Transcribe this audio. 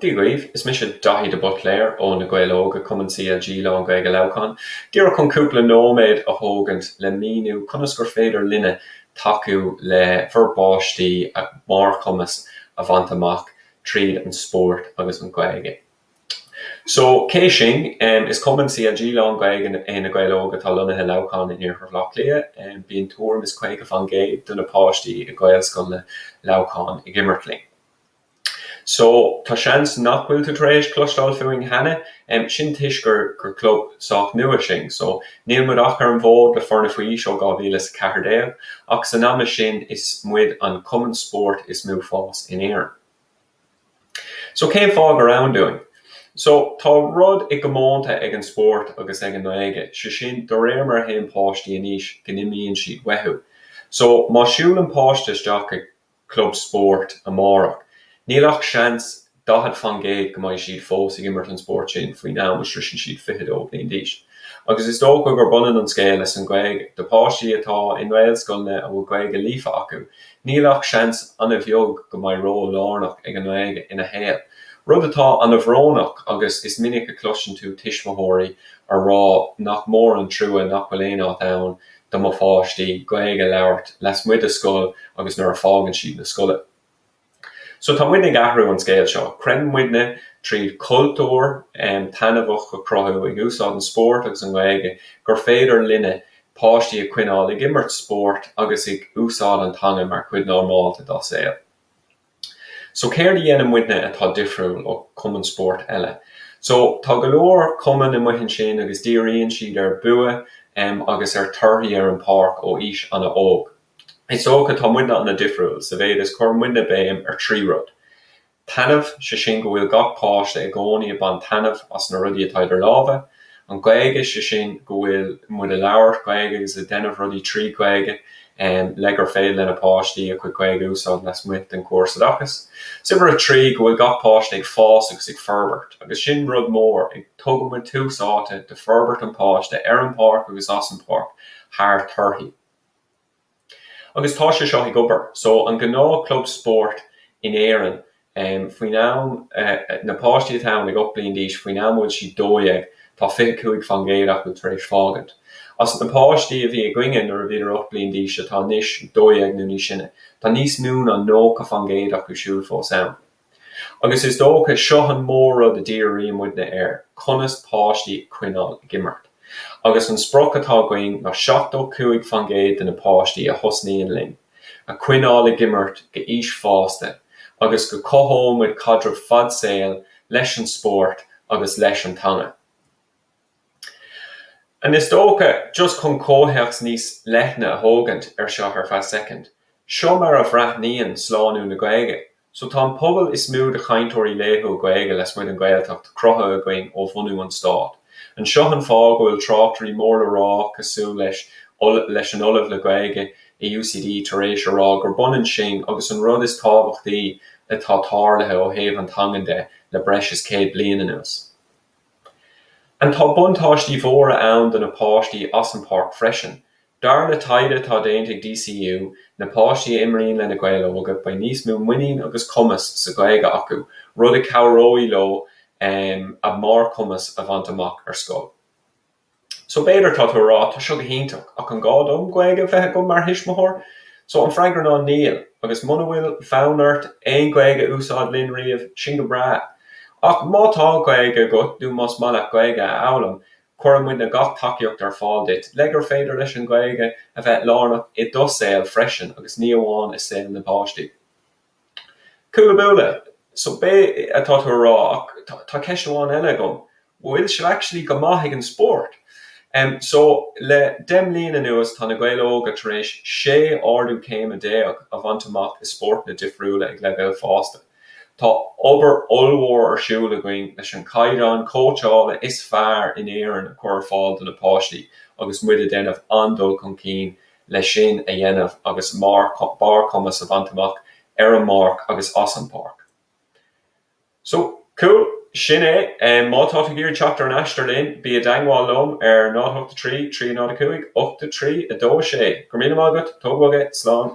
Dia dhaoibh, is mise Daithí de Buitléar ó Na Gaeil Óga, cumann CLG lán-Ghaeilge Leamhcán. Díreach chun cúpla nóiméad a thógaint le míniú conas gur féidir linne tacú le bhur bpáistí a mbarrchumas a bhaint amach tríd an spórt agus an Ghaeilge. So, cé sinn? Is cumann CLG lán-Ghaeilge é Na Gaeil Óga atá lonnaithe i Leamhcán in Iarthar Bhaile Átha Cliath. Bíonn tuairim is caoga faoin gcéad de na páistí i Gaelscoileanna Leamhcán ag imirt linn. So, tá seans nach bhfuil tú tar éis cloisteáil fúinn cheana, sin toisc gur club sách nua sinn. So, níl muid ach ar an bhfód le foirne faoi aois ó 2014, ach san ama sin is muid an cumann spóirt is mó fás in Éirinn. So cén fáth gur ann dúinn? So tá rud i gcomónta ag an spórt agus ag an nGaeilge, sé sin de réir mar a théann páistí in aois go n-imíonn siad uathu. So má siúlann páiste isteach ag club spóirt amárach, níl ach seans daichead faoin gcéad go mbeidh siad fós ag imirt an spóirt sin faoin am a sroiseann siad fiche dó bhliain d'aois. Agus is dócha gurb ionann an scéal leis an Ghaeilge. Do páistí atá i nGaelscoileanna a bhfuil Gaeilge líofa acu, Níl ach seans an-bheag go mbeidh ról lárnach ag an nGaeilge ina shaol, rud atá an-bhrónach agus is minic a chloiseann tú tuismitheoirí a rá nach mór an trua nach bhfuil aon áit ann do mo pháistí Gaeilge a labhairt lasmuigh de scoil agus nuair a fágann siad an scoil. So tá muidne ag athrú an scéal seo. Creideann muidne tríd cultúr taitneamhach a chruthú, ag úsáid an spóirt agus an Ghaeilge, gur féidir linne páistí a choinneáil ag imirt spóirt agus ag úsáid an teanga mar chuid normálta dá saol. So céard a dhéanann muidne atá difriúil ó chumainn spóirt eile? So tá go leor cumainn amuigh ansin agus díríonn siad ar bhua em agus ar torthaí ar an pháirc ó aois an-óg. Is dócha tá muidne an-difriúil sa mhéid is cuireann muidne béim ar thrí rud. Taitneamh, sé sin go bhfuil gach páiste i gcónaí ag baint taitneamh as na rudaí atá idir lámha. An Ghaeilge, sé sin go bhfuil muid ag labhairt Gaeilge agus ag déanamh rudaí trí Ghaeilge le gur féidir le na páistí a chuid Gaeilge a úsáid lasmuigh den chóras oideachais. Is uimhir a trí go bhfuil gach páiste ag fás agus ag forbairt agus sin rud mór, tugann muid tús áite do forbairt an páiste ar an páirc agus as an páirc thar torthaí. Agus tá sé seo ag obair. So an gnáth club spóirt in Éirinn faoin am, na páistí atá ann ag 8 bliain d'aois, faoin am a bhfuil siad 12 tá 25 faoin gcéad acu tar éis fágaint. As na páistí a bhí againne nuair a bhíodar 8 bliain d'aois atá anois 12 nó níos sine, tá níos mó ná 90 faoin gcéad acu siúd fós ann. Agus is dócha, seo an mór-rud a dhíríonn muidne air, conas páistí a choinneáil ag imirt. Agus an sprioc atá againn ná seachtó cúig faoin gcéad de na páistí a thosnaíonn linn, a choinneáil ag imirt go aois fásta, agus go cothóidh muid caidreamh fad saoil leis an spórt agus leis an teanga. And is dócha, just chun comhthéacs níos leithne a thógaint ar seo ar feadh soicind, seo mar a bhreathnaíonn slánú na Gaeilge So tá an pobal is mó de chainteoirí laethúil Gaeilge lasmuigh den Ghaeltacht cruthaithe againn ó bhunú an Stáit. And seo an fáth go bhfuil tráchtairí mór le rá cosúil leis leis an Ollamh le Gaeilge i UCD tar éis a rá gurb ionann sinn agus an rud is tábhachtaí atá tarlaithe ó thaobh na teangan de le breis is céad bliain anuas. And tá buntáistí mhóra ann do na páistí as an páirc freisin, Dar le taighde atá déanta ag DCU, na páistí a imríonn le Na Gaeil Óga, beidh níos mó muiníne agus cumas sa Ghaeilge acu, rud a chabhróidh leo a mbarrchumas a bhaint amach ar scoil. So, b'fhéidir, tá tú ag rá, tá seo go hiontach, ach an gá dom Gaeilge bheith agam mar thuismitheoir? So, an freagra ná níl. Agus muna bhfuil fonn ort aon Gaeilge a úsáid linn riamh, sin go breá. Ach má tá Gaeilge agat nó más maith leat Gaeilge a fhoghlaim, Cuireann muidne gach tacaíocht ar fáil duit le gur féidir leis an Ghaeilge a bheith lárnach i do shaol freisin agus ní amháin i saol na bpáistí. Cúla Búla, So b'fhéidir tá tú ag rá ach tá ceist amháin eile agam, bhfuil sibh actually go maith ag an spórt? Em so le deich mbliain anuas tá Na Gaeil Óga tar éis sé ardú céime déag a bhaint amach i spórtanna difriúla ag leibhéal fásta. Tá obair ollmhór ar siúl againn leis an gcaighdeán cóitseála is fearr in Éirinn a chur ar fáil do na páistí agus muid ag déanamh an-dul chun cinn leis sin a dhéanamh agus barrchumas a bhaint amach ar an bpáirc agus as an bpáirc. So, cool. Sin é. Má tá tú ag iarraidh teacht ar an aistear linn, bí i dteagmháil liom ar 083 305 8326. Go raibh míle maith agat. Tóg bhog é. Slán.